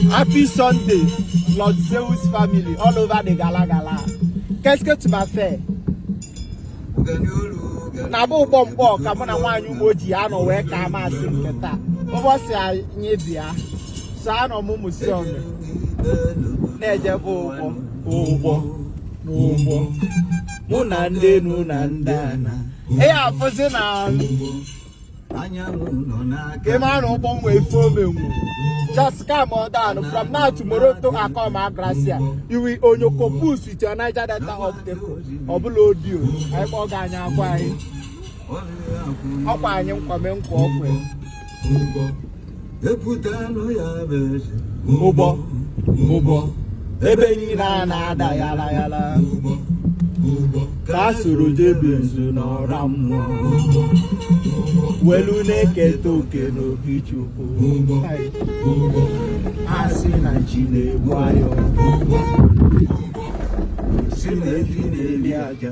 Happy Sunday, Lord Zeus family all over the gala gala. Qu'est-ce que tu m'as fait? na bụ ụgbọ mgbọ ka mụ na nwaanyị ugbo ji anọ wee ka amasị nke taa ụbọsị anyị bịa so anọ m mụsi ọnụ na-ejebe ụgbọ ụgbọ n'ụgbọ mụ na ndị enu na ndị ana ị afụzi na ị mara na ụgbọ nwe ife ọ menwu just come on down from now tomorrow to akoma Agrasia you will onyoko push with your Niger Delta obstacle ọ bụla odio anyị kpọọ gị anyị akwa anyị ọkwa anyị nkwame nkwa ọkwe ụgbọ ụgbọ ebe niile a na-ada yala yala ka a soro jebe nzu n'ọra mmụọ welu na-eketa oke n'obi chukwu a sị na nchi na-egbu ayọ sị na efi na-eli aja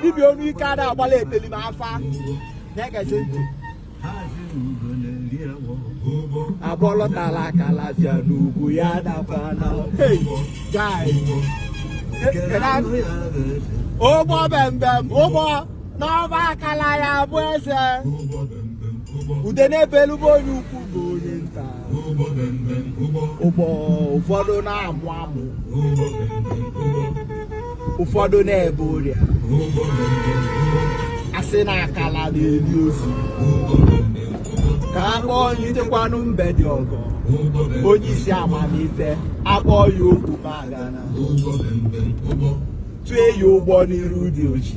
dibịa ọnụ ike ada agbala eteli ma afa na-egezi ntị agbọlọtala akala bịa n'ugwu ya dakwa na ụgbọ bembem ụgbọ n'ọba akala ya bụ eze ude n'ebe elu be onye ukwu be onye nta ụgbọ ụfọdụ na-amụ amụ ụfọdụ na-ebe ụrịa a sị na akala na-eli ozu ka a kpọọ onye ichekwanụ mbe dị ọgọ onye isi amamife a kpọọ ya oku magana tue ya ụgbọ n'iru dị ọchị